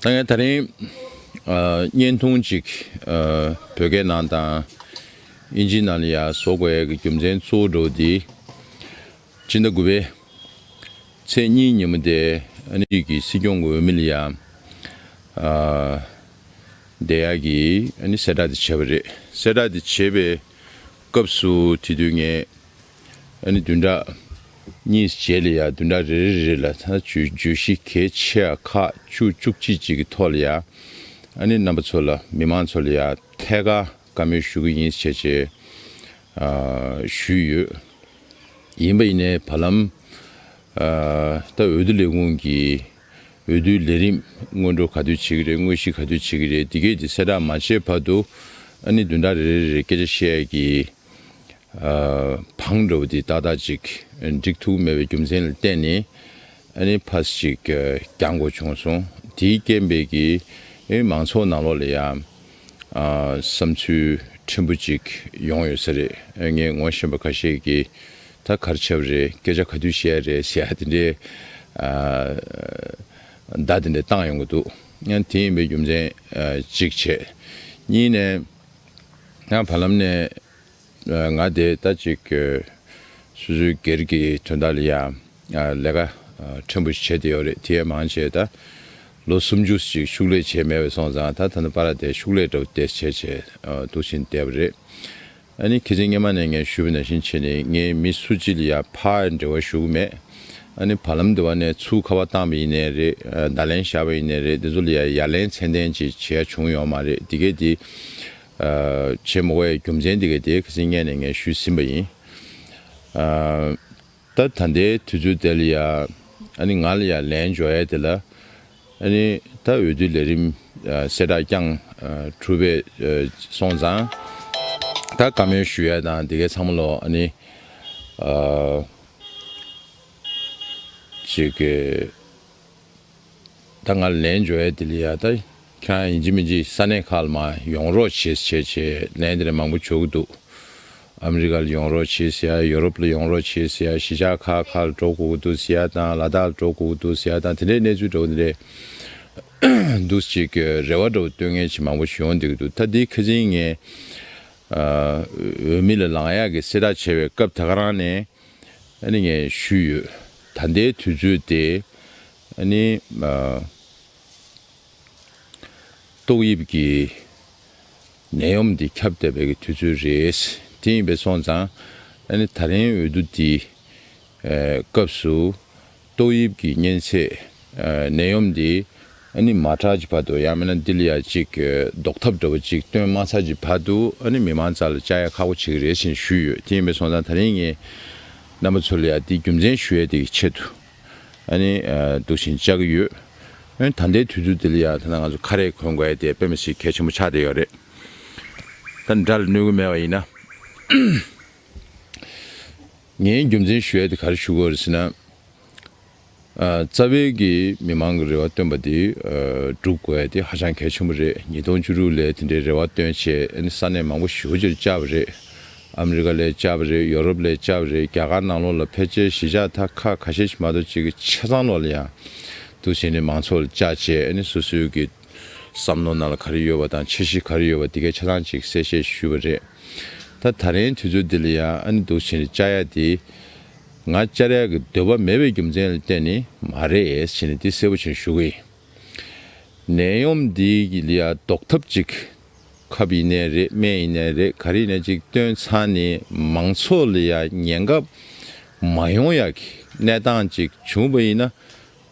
ད་ངས་ད་རིང་བརྙན་ཐུང་གཅིག་བོད་སྐད་ནང་དང་དབྱིན་ཇིའི་ནང་ལ་ཡང་བཟོ་དགོས་ཡས་ཀྱི་རྒྱུ་མཚན་གཙོ་བོ་འགྲོ་འདི་སྤྱི་ཟླ་དགུ་པའི་ཚེས་གཉིས་ཉིན་མོ་དེ་ཨ་ནི་རིགས་ཀྱི་སྲིད་སྐྱོང་གི་འོས་མི་ལ་ཡང་བསྡད་ཡས་ཀྱི་ཨ་ནི་གསལ་བསྒྲགས་དེ་བྱས་པ་རེད་གསལ་བསྒྲགས་དེ་བྱས་པའི་སྐབས་སུ་དེ་དུས་ངས། ཨ་ནི་བདུན་ཕྲག་གཉིས་རྗེས་ལ་ཡང་བདུན་ཕྲག་རེ་རེ་རེ་ལ་ད་ལྟ་བརྗོད་གཞི་གལ་ཆེ་བ་ཁག་བཅུ་བཅུ་གཅིག་གཅིག་གི་ཐོག་ལ་ཡང་ཨ་ནི་རྣམ་པ་ཚོ་ལ་མི་མང་ཚོ་ལ་ཡང་ཐད་ཀར་བཀའ་མོལ་ཞུ་གི་ཡིན་ཞེས་བཅས་ཞུས་ཡོད། ཡིན་པ་ཡིན་ནའི་བར་ལམ་ད་འོས་བསྡུ་ལས་ཁུངས་ཀྱི་འོས་བསྡུའི་ལས་རིམ་སྔོན་འགྲོ་ག་དུས་བྱེད་ཀྱི་རེད་དངོས་གཞི་ག་དུས་བྱེད་ཀྱི་རེད་འདི་གས་འདི་གསལ་བསྒྲགས་མ་བྱས་བར་དུ་ཨ་ནི་བདུན་ཕྲག་རེ་རེ་རེ་རེར་སྐད་ཆ་བཤད་ཀྱི་བང་འགྲོ་བ་དེ་ཏག་ཏག་ཅིག་འགྲིག་ཐུག་མེད་པའི་རྒྱུ་མཚན་ལ་བརྟེན་ནས་ཨ་ནི་ཕཱས་ཅིག་བརྒྱག་འགོ་བྱུང་སོང། དེའི་རྐྱེན་པས་ཀི་མང་ཚོགས་ནང་ལོགས་ལ་ཡང་བསམ་ཚུལ་ཕྲན་བུ་ཅིག་ཡོང་ཡོད་ས་རེད། ངས་ངོ་ཤེས་པ་ཁ་ཤས་ཀྱིས་ད་གར་ཆབ་རེད་སྐད་ཆ་ག་དུས་བཤད་ཡ་རེད་ཟེར་ཡ་དེ་འདྲའི་བརྡ་དེ་འདྲ་བཏང་ཡོང་གི་འདུག་དེ་ཡིན་པའི་རྒྱུ་མཚན་གཅིག་བྱས། གཉིས་ནས། ཡང་བར་ལམ་ནས་ང་དེ་ལྟ་ཅིག་སུ་སུའི་སྒེར་གྱི་དོན་དག་ལ་ཡང་ལས་ཀ་ཕྲན་བུ་ཞིག་བྱས་ཏེ་ཡོད་རེད་དེ་ཡང་མང་ཆེ་ད་ལོ་སུམ་ཅུ་ཞིག་ཕྱུགས་ལས་བྱས་མེད་བས་སོང་ཙང་ད་ད་ནི་པ་ར་དེ་ཕྱུགས་ལས་འདྲ་བོ་དེ་བྱས་བྱས་འདུག་བཞིན་བསྡད་པ་རེད་ཨ་ནི་ཁྱེད་ཚེ་སྔས་མ་ནས་ངས་ཞུས་པ་ནང་བཞིན་བྱས་ནས་ངའི་མི་སུ་གཅིག་ལ་ཡང་ཕ་འབྲེལ་བ་ཞུ་གི་མེད། ཨ་ནི་བར་ལམ་དེ་བ་ནས་ཚུར་ཁ་བ་བཏང་བ་ཡིན་ནས་རེད་བརྡ་ལན་ཞར་བ་ཡིན་ནས་རེད་དེ་ཚོ་ལ་ཡ་ཡ་ལན་ཚན་ཏན་ཅིག་བྱེད་ཡ་བྱུང་ཡོད་མ་རེད་དེ་གས་དེ་བྱེད་མོ་བའི་རྒྱུ་མཚན་དེ་གས་དེ་གས་ངས་ནས་ངས་ཞུས་ཟིན་པ་ཡིན་ད་ད་ལྟའི་དུས་ཚོད་དེ་ལ་ཡ་ཨ་ནི་ང་ལ་ཡ་ལན་འཇོག་ཡ་དེ་ལ་ཨ་ནི་ད་འོས་བསྡུ་ལས་རིམ་གསལ་བསྒྲགས་ཀྱང་གྲུབ་པས་སོང་ཙང་ད་བཀའ་མོལ་ཞུ་ཡ་དང་དེ་གས་ཚང་མ་ལོ་ཨ་ནི། ཅེས་བཀའ་སྔར་ལན་ཇོ་ཨེ་ཏི་ལི་ཡཱ་དང་ཁྱེད་རང་ཡིན་གཅིག་མིན་གཅིག་ས་གནས་ཁག་ལ་མ་ཡོང་རོགས་བྱེད་བྱེད་ཅེས་ལན་དེ་ལས་མང་པོ་བྱོ་གི་འདུག་ཨ་མི་རི་ཀ་ལ་ཡོང་རོགས་བྱེད་ཟེར་ཡ་ཡོ་རོབ་ལ་ཡོང་རོགས་བྱེད་ཟེར་ཡ་གཞིས་ཆགས་ཁག་ཁག་ལ་འགྲོ་དགོས་ཀྱི་འདུག་ཟེར་ཡ་དང་ལ་དྭགས་ལ་འགྲོ་དགོས་ཀྱི་འདུག་ཟེར་ཡ་དང་དེ་འདྲའི་གནས་ཚུལ་འདྲ་བོ་འདི་འདྲའི་འདུག་གཅིག་རེ་བ་འདྲ་བོ་སྟོན་མཁན་ཆེ་མང་པོ་ཞིག་ཡོང་བསྡད་ཀྱི་འདུག་ད་འདིའི་ཁ་ཆེན་ངས་འོས་མི་ལ་ལངས་ཡག་གི་སྲིད་ར་བྱེད་པའི་སྐབས་ད་ག་རང་ནས་ནི་ངས་ཞུས་ཡོད་ད་ལྟའི་དུས་ཚོད་དེ་ནི་ཏོག་དབྱིབས་ཀྱི་ནད་ཡོམ་འདི་ཁྱབ་བསྡད་པའི་དུས་ཚོད་རེད་དེ་ཡིན་པས་སོང་ཙང་ནི་ད་རིང་འོས་བསྡུ་འདི་སྐབས་སུ། ཏོག་དབྱིབས་ཀྱི་གཉན་ཚད་ནད་ཡོམ་འདི་ནི་མ་དྲག་ཀྱི་བར་དུ་ཡང་མིན་ན་འདི་ལ་ཡང་གཅིག་ཟློག་ཐབས་འདྲ་བོ་ཅིག་བཏོན་མ་ཚར་གྱི་བར་དུ་མི་མང་རྩ་ལ་བཅག་ཡ་ཁག་པོ་བྱེད་ཀྱི་རེད་ཅེས་ཞུས་ཡོད་དེ་ཡིན་པའི་སོང་ཙང་ད་རིང་ངས་རྣམ་པ་ཚོ་ལ་ཡང་འདི་རྒྱུ་མཚན་ཞུ་ཡ་དེ་ཀྱི་ཆེད་དུ་འདུག་བཞིན་བཅག་གི་ཡོད། ད་ལྟའི་དུས་ཚོད་འདི་ལ་ཡང་ཐ་ན་ང་ཚོ་ཁ་རས་གོན་དགོས་ཡ་དེ་དཔེ་མི་སྲིད་གལ་ཆེན་པོ་ཆགས་བསྡད་ཡོད་རེད། ད་འདྲ་ལ་གནོད་དགོས་མེད་པ་ཡིན་ན། ངའི་རྒྱུ་མཚན་ཞུ་ཡ་དེ་གར་ཞུ་དགོས་རེད་ཟེར་ན། རྩ་བའི་གི་མི་མང་གི་རེ་བ་བཏོན་པ་དེ་སྒྲུབ་དགོས་ཡ་དེ་ཧ་ཅང་གལ་ཆེན་པོ་རེད་ཉིས་སྟོང་བཅུ་དྲུག་ལས་དེ་འདྲའི་རེ་བ་བཏོན་བྱས་ཨ་ནི་ས་གནས་མང་པོ་ཞི་བོ་ཅེར་བཅར་བ་རེད། ཨ་མི་རི་ཀ་ལས་བཅར་བ་རེད་ཡོ་རོབ་ལས་བཅར་བ་རེད་རྒྱ་གར་ནང་ལོགས་ལ་ཕལ་ཆེར་གཞིས་ཆགས་དག་ཁ་ཁ་ཤས་ཤིག་མ་གཏོགས་གཅིག་གི་ཆ་ཚང་ལོགས་ལ་ཡང་འདུག་བྱས་ནས་མང་ཚོགས་ལ་བཅར་བྱས་ཨ་ནི་སོ་སོའི་གི། བསམ་མནོ་ན་ལ་ག་རེ་ཡོད་བ་དང་ཆེ་བཞི་ག་རེ་ཡོད་བ་དེ་གའི་ཆ་ལང་ཅིག་གསལ་བཤད་ཞུས་བ་རེད། ད་ད་རེན་དུས་ཚོད་འདི་ལ་ཡང་ཨ་ནི་སྡུག་བྱེད་རེ་བཅའ་ཡ་དེ། ང་བཅར་ཡ་གི་འདོད་པ་མེད་བའི་རྒྱུ་མཚན་ལ་བརྟེན་ནི་མ་རེད་བྱེད་ནི་འདི་གསལ་བོ་བྱེད་ཞུ་གི་ཡིན། ནད་ཡོམ་འདི་གི་ལ་ཡ་ཟློག་ཐབས་ཅིག་ཁབ་ཡིན་ནའི་རེད་སྨན་ཡིན་ནའི་རེད་ག་རེ་ཡིན་ན་ཅིག་བཏོན་ཚང་ནི་མང་ཚོགས་ལ་ཡ་ཉེན་ཁ་མ་ཡོང་ཡ་གི་གནས་སྟངས་ཅིག་བྱུང་བ་ཡིན་ན།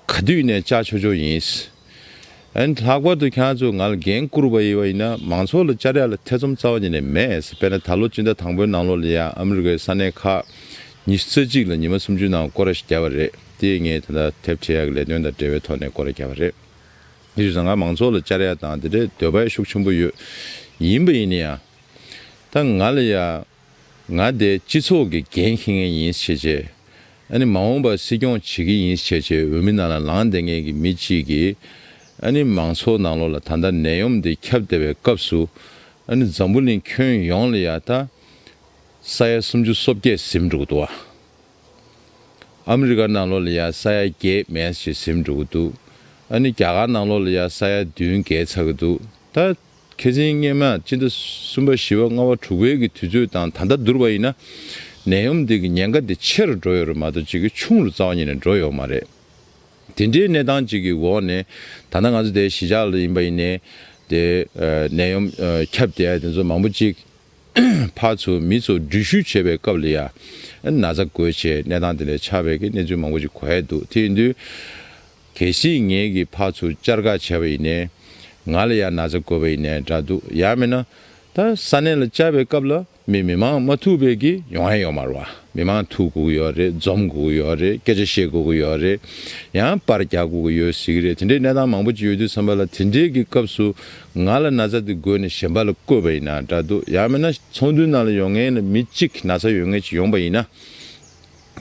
ག་དུས་ནས་བཅའ་ཆོག་ཆོག་ཡིན། ཨན། ལྷག་པར་དུ་ཁྱང་ཚོས་ང་ལ་འགན་བསྐུར་བ་ཡིན་ན་མང་ཚོགས་ལ་བཅར་ཡག་ལ་ཐེ་ཚོམ་རྩ་བ་ཉིད་ནས་མེད། དཔེར་ན་ད་ལོ་སྤྱི་ཟླ་དང་པོའི་ནང་ལོ་ལ་ཡང་ཨ་མི་རི་ཀའི་ས་གནས་ཁག་ཉི་ཤུ་རྩ་གཅིག་ལ་ཉི་མ་སུམ་ཅུའི་ནང་སྐོར་ར་ཞིག་བརྒྱབ་པ་རེད། དེ་ཡིས་ངས་དེ་འདྲ་དེབ་ཕྲེང་ཡག་གི་ལས་དོན་དང་འབྲེལ་བའི་ཐོག་ནས་སྐོར་ར་བརྒྱབ་པ་རེད། དེ་བཞིན་བཟང་ངག་མང་ཚོགས་ལ་བཅར་ཡག་དང་དེ་འདྲའི་འདོད་པ་ཡང་ཤུགས་ཆེན་པོ་ཡོད། ཡིན་པ་ཡིན་ན་ཡང། ད་ང་ལ་ཡང། ང་དེ་སྤྱི་ཚོགས་ཀྱི་འགན་འཁྱེར་མཁན་ཡིན་ཕྱེད་ཆེ། ཨ་ནི་མ་འོངས་པར་སྲིད་སྐྱོང་བྱེད་མཁན་ཡིན་ཕྱེད་ཆེ་འོས་མི་ནང་ལ་ལངས་བསྡད་མཁན་གྱི་མི་གཅིག་གིས། ཨ་ནི་མང་ཚོགས་ནང་ལོགས་ལ་ད་ལྟ་ནད་ཡོམ་འདི་ཁྱབ་བསྡད་པའི་སྐབས་སུ། ཨ་ནི་འཛམ་བུ་གླིང་ཁྱོན་ཡོངས་ལ་ཡ་ད། ས་ཡ་སུམ་ཅུ་སོ་བརྒྱད་གཟིམས་འགྲོ་གི་འདུག་ཨ། ཨ་མི་རི་ཀ་ནང་ལོགས་ལ་ཡ་ས་ཡ་བརྒྱད་མེད་ཅིག་གཟིམས་འགྲོ་གི་འདུག་ཨ་ནི་རྒྱ་གར་ནང་ལོགས་ལ་ཡ་ས་ཡ་བདུན་བརྒལ་ཚར་གི་འདུག་ད། མཁས་ཆེན་སྙེ་མ་སྤྱི་ཟླ་གསུམ་པ་བཞི་བ་ལྔ་བ་དྲུག་བའི་གི་དུས་ཚོད་དང་ད་ལྟ་བསྡུར་བ་ཡིན་ན། ནད་ཡོམ་དེ་གི་ཉེན་ཁ་དེ་ཆེ་རུ་འགྲོ་ཡོད་རེད་མ་གཏོགས་ཅིག་གི་ཆུང་རུ་རྩ་བ་ཉིད་ནས་འགྲོ་ཡོད་མ་རེད། དེ་འདྲའི་གནས་སྟངས་ཅིག་གི་འོག་ནས་ད་ལྟ་ང་ཚོ་དེ་གཞིས་ཆགས་ལ་ཡིན་པ་ཡིན་ནས་དེ་ནད་ཡོམ་ཁྱབ་དེ་དེ་ཚོ་མང་པོ་ཅིག་ཕར་ཚུར་མི་ཚོ་འགྲུལ་བཞུད་བྱེད་པའི་སྐབས་ལ་ཡ་ན་ཚ་དགོས་བྱེད་གནས་སྟངས་དེ་ལས་ཆགས་པའི་གི་གནས་ཚུལ་མང་པོ་ཅིག་གོ་ཡ་འདུག་དེ་ཡིན་དུས། གལ་སྲིད་ངེད་ཀྱི་ཕ་ཚུར་བཅར་ག་བྱས་པ་ཡིན་ནའི། ང་ལ་ཡང་ན་ཚ་བཀོལ་བ་ཡིན་ནའི་འདྲ་འདུག་ཡང་མིན་ན། ད་ས་གནས་ལ་བཅར་བའི་སྐབས་ལ་མི་མི་མང་མ་ཐུག་བས་ཀྱི་ཡོང་ཡ་ཡོང་མར་བ་མི་མང་ཐུག་དགོས་ཀྱི་ཡོད་རེད་འཛོམས་དགོས་ཀྱི་ཡོད་རེད་སྐད་ཆ་བཤད་དགོས་ཀྱི་ཡོད་རེད་ཡང་པར་རྒྱག་དགོས་ཀྱི་ཡོད་ཟེར་གྱི་རེད་དེ་འདྲའི་གནས་སྟངས་མང་པོ་ཅིག་ཡོད་དུས་བསམ་པ་ལ་དེ་འདྲའི་ཀྱི་སྐབས་སུ་ང་ལ་ན་ཚ་དེ་བགོས་ནས་གཞན་པ་ལ་བཀོལ་བ་ཡིན་ན་འདྲ་འདུག་ཡང་མིན་ན་ཚོགས་འདུའི་ནང་ལ་ཡོང་ངེས་ལ་མི་གཅིག་ན་ཚ་ཡོད་ངེས་ཅིག་ཡོང་བ་ཡིན་ན།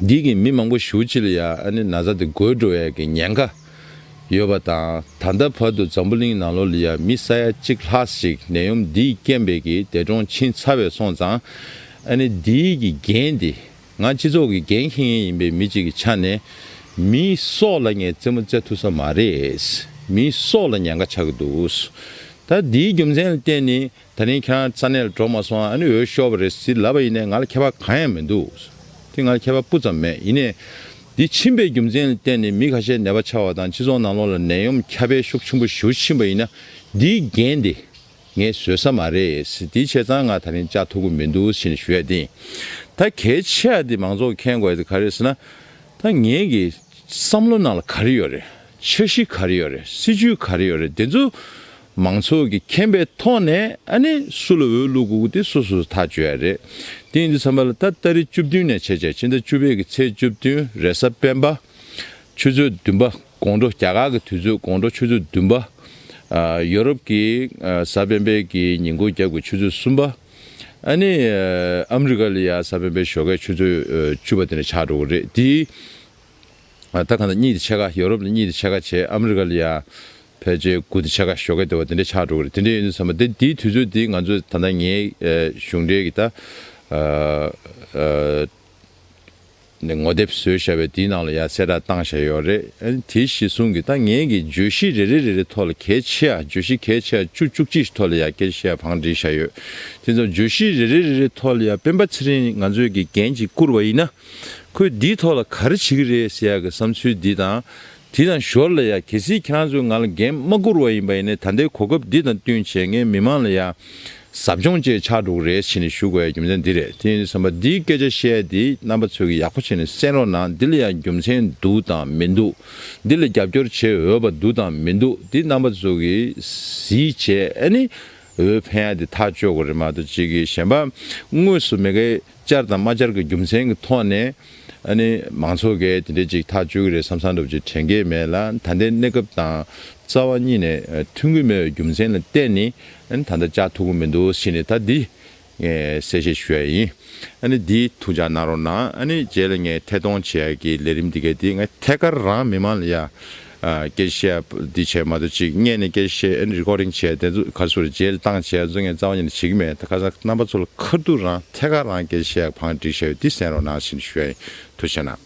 འདི་གིས་མི་མང་པོ་ཞུ་ཅི་ལ་ཡ་ཨ་ནི་ན་ཚ་དེ་དགོད་འགྲོ་བས་ཀྱི་ཉེན་ཁ་ཡོད་པ་དང་ད་ལྟ་བར་དུ་འཛམ་བུ་གླིང་ནང་ལོ་ལི་ཡ་མི་ས་ཡ་གཅིག་ལྷག་ཞིག་ནད་ཡོམ་འདིས་རྐྱེན་པས་ཀྱི་འདས་གྲོངས་ཕྱིན་ཚར་བས་སོང་ཙང་ཨ་ནི་འདི་གི་འགན་དེ་ང་སྤྱི་ཚོགས་ཀྱི་འགན་ཁྱེད་ངན་ཡིན་པའི་མི་གཅིག་གི་ཆ་ནས་མི་སོགས་ལ་ངས་རྩེད་མོ་རྩེད་ཐུབ་ས་མ་རེད་མི་སོགས་ལ་ཉེན་ཁ་ཆགས་ཀྱི་འདུག་ད་འདིའི་རྒྱུ་མཚན་ལ་བརྟེན་ནི་ད་ནི་ཁྱེད་རང་ས་གནས་ལ་འགྲོ་མ་སོང་ཨ་ཨ་ནི་འོས་ཤོར་བ་རེད་ཟིག་ལབ་པ་ཡིན་ནའི་ང་ལ་ཁྱད་པར་གང་ཡང་མི་འདུག་དེ་ང་ལ་ཁྱད་པར་སྤུ་ཙམ་མེད་ཡིན་ནའི། འདི་ཕྱིན་པའི་རྒྱུ་མཚན་ལ་བརྟེན་ནས་མི་ཁ་ཤས་ནད་པ་ཆགས་བ་དང་སྤྱི་ཚོགས་ནང་ལོག་ལ་ནད་ཡོམ་ཁྱབ་པའི་ཤུགས་ཆེན་པོ་ཞུགས་ཕྱིན་པ་ཡིན་ན་འདིའི་འགན་དེ་ངས་བཟོད་ས་མ་རེད་དེའི་ཆེད་ཚང་ང་ད་རིང་བཅའ་ཐུབ་ཀི་མི་འདུག་ཞེས་ནས་ཞུ་ཡ་དེ་ད་གལ་ཆེ་ཡ་དེ་མང་ཚོགས་ཀྱི་མཁྱེན་དགོས་ཡ་དེ་ག་རེད་ཟེར་ན། ད་ངེད་ཀྱི་བསམ་བློ་ནང་ལ་ག་རེ་ཡོད་རེད་འཆར་གཞི་ག་རེ་ཡོད་རེད་སྲིད་ཇུས་ག་རེ་ཡོད་རེད་དེ་ཚོ་མང་ཚོགས་ཀྱི་མཁྱེན་པའི་ཐོག་ནས་ཨ་ནི་སུ་ལ་འོས་བླུག་དགོས་དགོས་དེ་སོ་སོས་ཐག་གཅོད་ཡ་རེད། དེང་དུས་བསམ་པ་ལ་ད་ལྟ་རེ་བཅུ་བདུན་ནས་བྱས་བྱས་ཕྱི་ཟླ་བཅུ་བའི་གི་ཚེས་བཅུ་བདུན་རེས་གཟའ་སྤེན་པ། ཆུ་ཚོད་བདུན་པ་དགོང་དྲོ་རྒྱ་གར་གྱི་དུས་ཚོད་དགོང་དྲོ་ཆུ་ཚོད་བདུན་པ། ཡོ་རོབ་ཀྱི་གཟའ་སྤེན་པའི་གི་ཉིན་སྒོ་རྒྱབ་ཀྱི་ཆུ་ཚོད་གསུམ་པ། ཨ་ནི་ཨ་མི་རི་ཀ་ལ་ཡ་གཟའ་སྤེན་པའི་ཞོགས་ཀའི་ཆུ་ཚོད་བཅུ་པ་དེ་ནས་ཆགས་འགྲོ་གི་རེད་དེའི་ད་ག་ནས་གཉིད་དེ་ཆད་ཁ་ཡོ་རོབ་ནས་གཉིད་དེ་ཆད་ཁ་བྱས་ཨ་མི་རི་ཀ་ལ་ཡ་ཕལ་ཆེ་དགུ་དེ་ཆད་ཁ་ཞོག་གེ་དེ་བ་དེ་འདྲས་ཆགས་འགྲོ་གི་རེད་དེ་འདྲས་ཡོད་ནུས་ས་མ་དེ་དེའི་དུས་ཚོད་དེ་ང་ཚོ་ད་ནང་ངའི་གཞུང་འབྲེལ་གི་ད་ནས་ངོ་དེབ་བཟོས་བཞག་པའི་དེའི་ནང་ལ་ཡ་གསལ་བསྒྲགས་བཏང་བཞག་ཡོད་རེད་དེ་གཞི་བཟུང་གི་ད་ངས་གི་བརྗོད་གཞི་རེ་རེ་རེ་རེ་ཐོག་ལ་གལ་ཆེ་ཡ་བརྗོད་གཞི་གལ་ཆེ་ཡ་བཅུ་བཅུ་གཅིག་ཞིག་ཐོག་ལ་ཡ་གལ་ཆེ་ཡ་བང་བསྒྲིགས་བཞག་ཡོད་དེ་ཚོ་བརྗོད་གཞི་རེ་རེ་རེ་རེ་ཐོག་ལ་ཡ་སྤེན་པ་ཚེ་རིང་ང་ཚོས་གི་འགན་གཅིག་བསྐུར་བ་ཡིན་ན། ཁོས་འདིའི་ཐོག་ལ་ག་རེ་བྱེད་ཀྱི་རེད་ཟེར་ཡག་གི་བསམ་ཚུལ་འདི་དང་དེ་དང་ཞོར་ལ་ཡང་གལ་སྲིད་ཁྱེད་ཚོས་ང་ལ་འགན་མ་བསྐུར་བ་ཡིན་པ་ཡིན་ནའི་ད་ལྟའི་གོ་སྐབས་འདི་དང་བསྟུན་བྱས་ངས་མི་མང་ལ་ཡང་ཟབ་སྦྱོང་བཅས་ཆགས་འགྲོ་གི་རེད་བྱས་ནས་ཞུ་དགོས་ཡ་རྒྱུ་མཚན་འདི་རེད་དེ་ཡིན་དུས་བསམ་པ་འདིའི་སྐད་ཆ་བཤད་དེ་རྣམ་པ་ཚོས་ཀྱི་ཡག་པོ་བྱས་ནས་གསན་རོགས་གནང་འདི་ལ་ཡང་རྒྱུ་མཚན་འདུག་དང་མི་འདུག་འདི་ལ་རྒྱབ་སྐྱོར་བྱེད་འོས་པ་འདུག་དང་མི་འདུག་དེ་རྣམ་པ་ཚོས་ཀྱི་གཟིགས་བྱས་ནས་འོས་འཕེན་ཡ་དེ་ཐག་གཅོད་དགོས་རེད་མ་གཏོགས་བྱེད་ཀྱི་གཞན་པ་དངོས་སུ་མེད་ཀི། བཅར་དང་མ་བཅར་གྱི་རྒྱུ་མཚན་གྱི་ཐོག་ནས། མང་ཚོགས་ཀས་དེ་འདྲའི་ཅིག་ཐག་གཅོད་ཀྱི་རེད་བསམ་བསམ་འདུག་ཅེས་དྲན་གྱི་མེད་ལ་ད་ལྟའི་གནས་སྐབས་དང་རྩ་བ་གཉིས་ནས་མཐུན་གྱི་མེད་པའི་རྒྱུ་མཚན་ལ་བརྟེན་ནས་ད་ལྟ་བཅར་ཐུབ་ཀྱི་མི་འདུག་ཞེས་ནས་ད་འདི་གསལ་བཤད་ཞུ་ཡ་ཡིན། འདི་ཐུགས་འཇགས་གནང་རོགས་གནང། རྗེས་ལ་ངས་ཐད་གཏོང་བྱེད་ཡག་གི་ལས་རིམ་འདི་གའི་དེ་ཐད་ཀར་རང་མི་མང་ལ་ཡ། སྐད་བཤད་འདི་བྱས་མ་ཐུབ་ཅིག་བརྙན་ནས་སྐད་བཤད་ཨེ Recording བྱས་དེ་ཚོ་ག་སུར་མཇལ་བཏང་བྱས་ཚོ་ངས་རྩ་བ་ཉིད་ནས་བྱེད་གི་མེད་ད་ཁ་སང་རྣམ་པ་ཚོ་ལ་ཁ་རྡུག་རང་ཐད་ཀར་རང་སྐད་བཤད་བང་སྒྲིག་བྱས་ཡོད་འདི་གསན་རོགས་གནང་ཞེས་ཞུ་ཡ་ཡིན་ཐུགས་ཆེ་གནང།